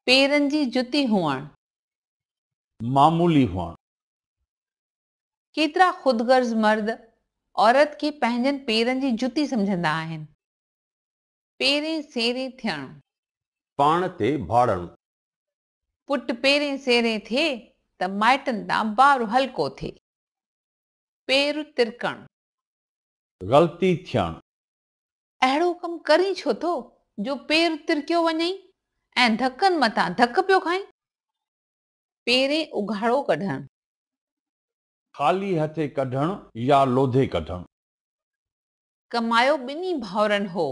پيرن جي جتي هئڻ. معمولي هئڻ. ڪيترا خود غرض مرد عورت کي پنهنجن پيرن جي جتي سمجهندا آهن. پيرين سيرين ٿيڻ. پاڻ تي ڀاڙڻ. پٽ پيرين سيرين ٿئي ته مائٽن تان بار هلڪو ٿئي. پير ترڪڻ. غلطي ٿيڻ. اهڙو ڪم ڪرين ڇو ٿو جو پير ترڪيو وڃئي ۽ ڌڪن مٿان ڌڪ پيو کائين. پيرين اگهاڙو ڪڍڻ. خالي هٿي ڪڍڻ يا لوڌي ڪڍڻ. ڪمايو ٻنهي ڀائرن هو،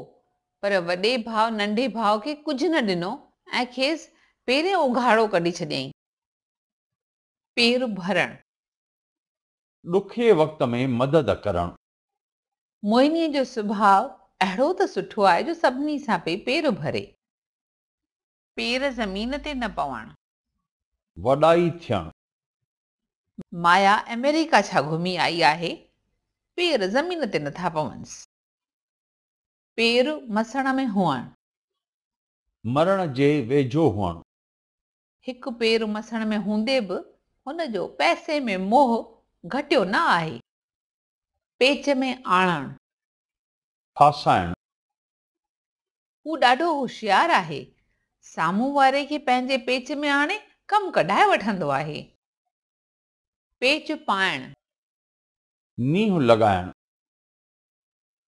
پر وڏي ڀاء ننڍي ڀاء کي ڪجهه نه ڏنو ۽ کيس پيرين اگهاڙو ڪڍي ڇڏيائين. پير ڀرڻ. ڏکئي وقت ۾ مدد ڪرڻ. موهنيء جو سڀاء اهڙو ته سٺو آهي جو سڀني سان پئي پير ڀري. پير زمين تي نه پوڻ. وڏائي ٿيڻ. مايا آمريڪا ڇا گهمي آئي آهي؟ پير زمين تي نه ٿا پونس. پير مسڻ ۾ هئڻ. مرڻ جي ويجهو هئڻ. هڪ پير مسڻ ۾ هوندي به هن جو پئسي ۾ موهه گهٽيو نه آهي. پيچ ۾ آڻڻ. ڦاسائڻ. هو ڏاڍو هوشيار آهي. سامهون واري کي پنهنجي پيچ ۾ آڻي ڪم ڪڍائي وٺندو آهي. پيچ پائڻ. نينهن لڳائڻ.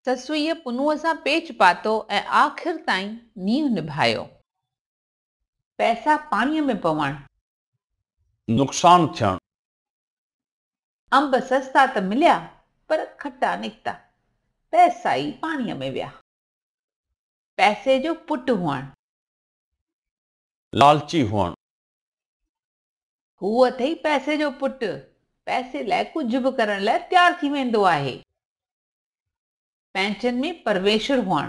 سسئيء پنهونء سان پيچ پاتو ۽ آخر تائين نينهن نڀايو. پئسا پاڻيء ۾ پوڻ. نقصان ٿيڻ. انب سستا ته مليا، پر کٽا نڪتا. پئسا ئي پاڻيء ۾ ويا. پئسي جو پٽ هئڻ. لالچي هئڻ. هو اٿئي پئسي جو پٽ، پئسي لاء ڪجهه به ڪرڻ لاء تيار ٿي ويندو آهي. پنهنچن ۾ پرويشر هئڻ.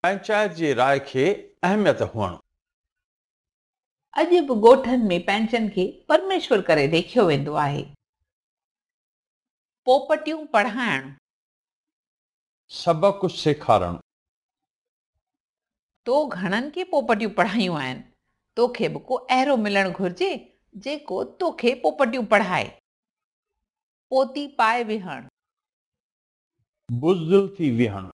پنهنچائت جي راء کي اهميت هئڻ. اڄ به ڳوٺن ۾ پنهنچن کي پرميشور ڪري ليکيو ويندو آهي. پوپٽيون پڙهائڻ. سڀ ڪجهه سيکارڻ. تو گهڻن کي پوپٽيون پڙهايون آهن، توکي به ڪو اهرو ملڻ گهرجي، جيڪو توکي پوپٽيون پڙهائي. پوتي پائي ويهڻ. بزدل ٿي ويهڻ.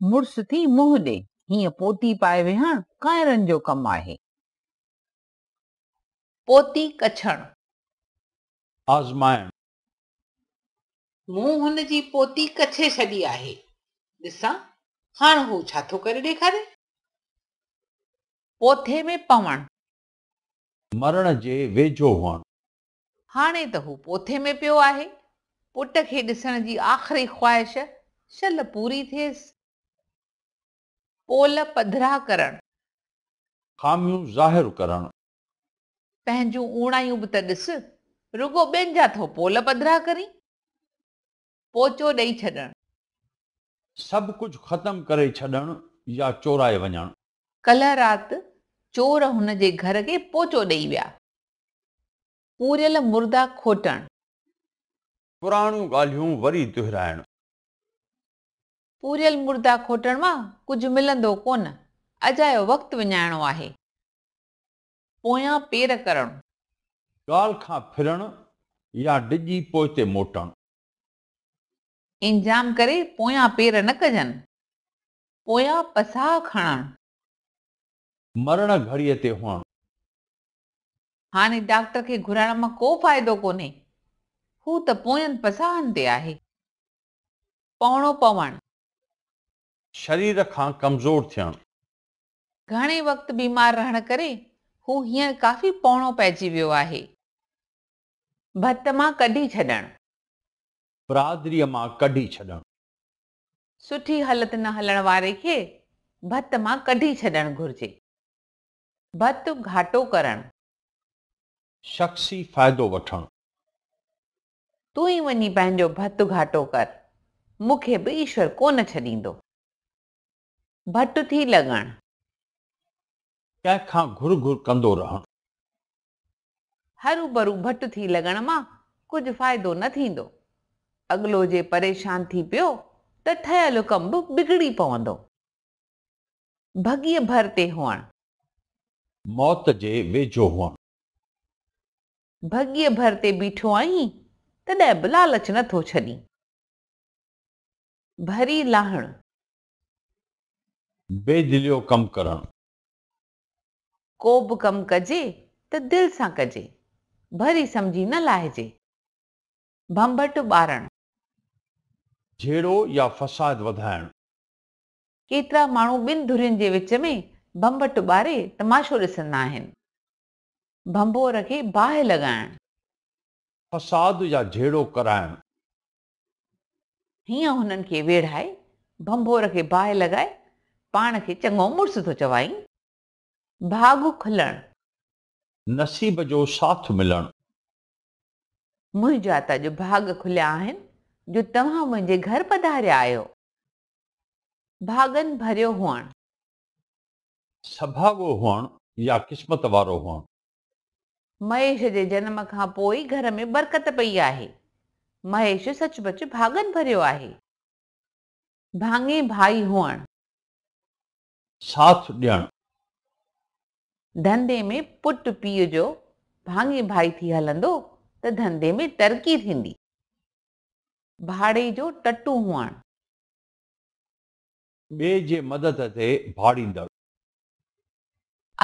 مڙس ٿي منهن ڏي. هيئن پوتي پائي ويهڻ ڪائرن جو ڪم آهي. پوتي ڪڇڻ. آزمائڻ. مون هن جي پوتي ڪڇي ڇڏي آهي. ڏسان هاڻ هو ڇا ٿو ڪري ڏيکاري. پوٿي ۾ پوڻ. مرڻ جي ويجهو هئڻ. هاڻي ته هو پوٿي ۾ پيو آهي. پٽ کي ڏسڻ جي آخري خواهش شل پوري ٿيس. پول پڌرا ڪرڻ. خاميون ظاهر ڪرڻ. پنهنجون اوڻايون به ته ڏس. رڳو ٻين جا ٿو پول پڌرا ڪرين. پوچو ڏئي ڇڏڻ. سڀ ڪجهه ختم ڪري ڇڏڻ يا چورائي وڃڻ. ڪلهه رات چور هن جي گهر کي پوچو ڏئي ويا. پوريل مردا کوٽڻ. پراڻيون ڳالهيون وري دهرائڻ. پوريل مردا کوٽڻ مان ڪجهه ملندو ڪونه. اجايو وقت وڃائڻو آهي. پويان پير ڪرڻ. ڳالهه کان ڦرڻ يا ڊڄي پوئتي موٽڻ. انجام ڪري پويان پير نه ڪجن، پويان پساهه کڻڻ. مرڻ گهڙيء تي هئڻ. هاڻي ڊاڪٽر کي گهرائڻ مان ڪو فائدو ڪونهي، هو ته پوين پساهن تي آهي. پوڻو پوڻ. شرير کان ڪمزور ٿيڻ. گهڻي وقت بيمار رهڻ ڪري هو هينئر ڪافي پوڻو پئجي ويو آهي. ڀت مان ڪڍي ڇڏڻ. برادريء مان ڪڍي ڇڏڻ. سٺي هلت نه هلڻ واري کي ڀت مان ڪڍي ڇڏڻ گهرجي. ڀت گهاٽو ڪرڻ. شخصي فائدو وٺڻ. تون ئي وڃي پنهنجو ڀت گهاٽو ڪر، مون کي به ايشور ڪونه ڇڏيندو. ڀٽ ٿي لڳڻ. ڪنهن کان گهر گهر ڪندو رهڻ. هروڀرو ڀٽ ٿي لڳڻ مان ڪجهه فائدو نه ٿيندو. اڳلو جي پريشان ٿي پيو ته ٺهيل حڪم به بگڙي پوندو. ڀڳيء ڀر تي هئڻ. موت جي ويجهو هئڻ. ڀڳيء ڀر تي بيٺو آهين، تڏهن به لالچ نه ٿو ڇڏين. ڀري لاهڻ. بي دليو ڪم ڪرڻ. ڪو به ڪم ڪجي ته دل سان ڪجي، ڀري سمجهي نه لاهجي. ڀنڀٽ ٻارڻ. جهيڙو يا فساد وڌائڻ. ڪيترا ماڻهو ٻن ڌرين جي وچ ۾ ڀنڀٽ ٻاري تماشو ڏسندا آهن. ڀنڀور کي باهه لڳائڻ. فساد يا جهيڙو ڪرائڻ. هينئن هنن کي ويڙهائي، ڀنڀور کي باهه لڳائي، پاڻ کي چڱو مڙس ٿو چوائين. ڀاڳ کلڻ. نصيب جو ساٿ ملڻ. منهنجا ته اڄ ڀاڳ کليا آهن، جو توهان منهنجي گهر پڌاريا آهيو. ڀاڳن ڀريو هئڻ. سڀاڳو هئڻ يا قسمت وارو هئڻ. مهيش جي جنم کان پوء گهر ۾ برڪت پئي آهي. مهيش سچ پچ ڀاڳن ڀريو آهي. ڀاڱي ڀائي هئڻ. ساٿ ڏيڻ. ڌنڌي ۾ پٽ پيء جو ڀاڱي ڀائي ٿي هلندو ته ڌنڌي ۾ ترقي ٿيندي. ڀاڙي جو ٽٽو هئڻ. ٻئي جي مدد تي ڀاڙيندڙ.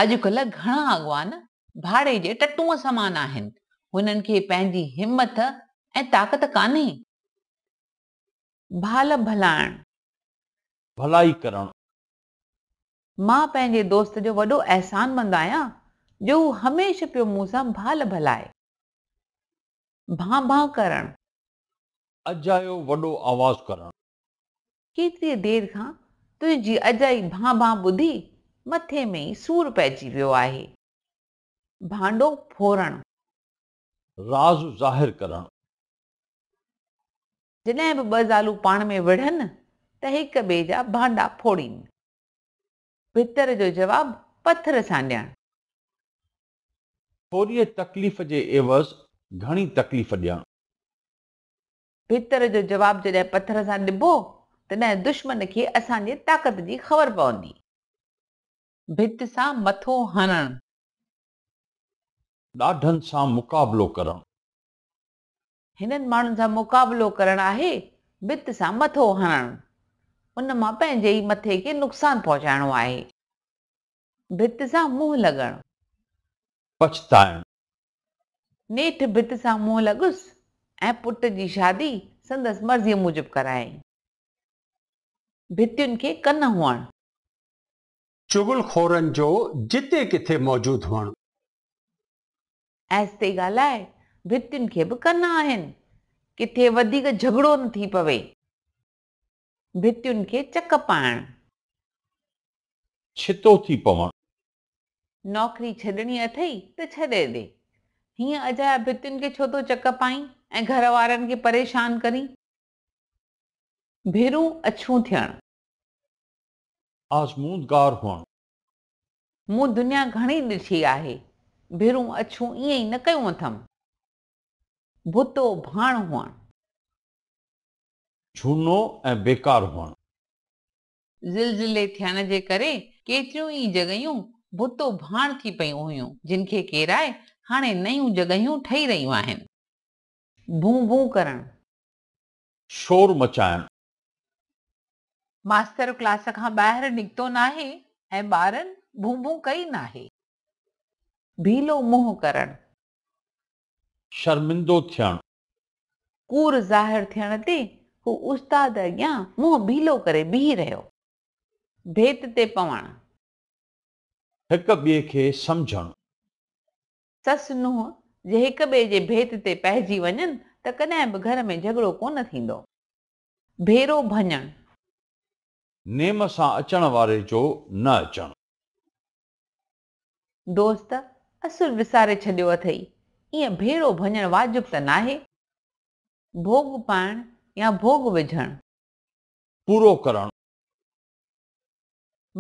اڄڪلهه گهڻا اڳواڻ ڀاڙي جي ٽٽون سمان آهن، هنن کي پنهنجي همٿ ۽ طاقت ڪانهي. ڀال ڀلائڻ. ڀلائي ڪرڻ. مان پنهنجي دوست جو وڏو احسان مند آهيان جو هو هميشه پيو مون سان ڀال ڀلائي. ڀان ڀان ڪرڻ. اجايو وڏو آواز ڪرڻ. ڪيتريء دير کان تنهنجي اجائي ڀان ڀان ٻڌي مٿي ۾ ئي سور پئجي ويو آهي. ڀانڊو ڦورڻ. راز ظاهر ڪرڻ. جڏهن به ٻه زالون پاڻ ۾ وڙهن ته هڪ ٻئي جا ڀانڊا ڦوڙين. ڀتر جو جواب پٿر سان ڏيڻ. ٿوريء تڪليف جي عيوض گهڻي تڪليف ڏيڻ. پٿر جو جواب جڏهن پٿر سان ڏبو، تڏهن دشمن کي اسان جي طاقت جي خبر پوندي. ڀت سان مٿو هڻڻ. ڏاڍن سان مقابلو ڪرڻ. هنن ماڻهن سان مقابلو ڪرڻ آهي، ڀت سان مٿو هڻڻ. ان مان پنهنجي ئي مٿي کي نقصان پهچائڻو آهي. ڀت سان منهن لڳڻ. پڇتائڻ، نيٺ ڀت سان منهن لڳس ۽ پٽ جي شادي سندس مرضيء موجب ڪرايائين. ڀتين کي ڪن هئڻ. چغل خورن جو جتي ڪٿي موجود هئڻ. آهستي ڳالهاء، ڀتين کي به ڪن آهن، ڪٿي وڌيڪ جهڳڙو نه ٿي پوي. ڀتين کي چڪ پائڻ. ڇتو ٿي پوڻ. نوڪري ڇڏڻي اٿئي ته ڇڏي ڏي. هيئن اجايا ڀتين کي ڇو ٿو چڪ پائين ۽ گهر وارن کي پريشان ڪرين. ڀيرون اڇون ٿيڻ. آزمودگار هئڻ. مون دنيا گهڻي ڏٺي آهي. ڀيرون اڇون ائين ئي نه ڪيون اٿم. ڀتو ڀاڻ هئڻ. جهونو ۽ بيڪار هئڻ. زلزلي ٿيڻ جي ڪري ڪيتريون ئي جڳهيون ڀتو ڀاڻ ٿي پيون هيون، جن کي ڪيرائي هاڻي نيون جڳهيون ٺهي رهيون آهن. بون بون ڪرڻ. شور مچائڻ. ماستر ڪلاس کان ٻاهر نڪتو ناهي ۽ ٻارن بون بون ڪئي ناهي. ڀيلو منهن ڪرڻ. شرمندو ٿيڻ. ڪور ظاهر ٿيڻ تي هو استاد اڳيان منهن بيلو ڪري بيهي رهيو. ڀيت تي پوڻ. هڪ ٻئي کي سمجهڻ. سس نونهن جي هڪ ٻئي جي ڀيت تي پئجي وڃن ته ڪڏهن به گهر ۾ جهڳڙو ڪونه ٿيندو. ڀيرو ڀڃڻ. نيم سان اچڻ واري جو نه اچڻ. دوست اصل وساري ڇڏيو اٿئي، ائين ڀيرو ڀڃڻ واجب ته ناهي. ڀوڳ پائڻ يا ڀوڳ وجهڻ. پورو ڪرڻ.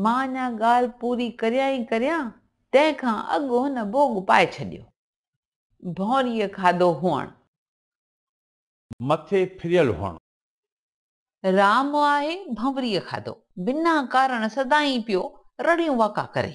مان اڃا ڳالهه پوري ڪريان ئي ڪريان، تنهن کان اڳ هن ڀوڳ پائي ڇڏيو. ڀونريء کاڌو هئڻ. مٿي ڦريل هئڻ. رام آهي ڀنوريء کاڌو. بنا ڪارڻ سدائين پيو رڙيون واڪا ڪري.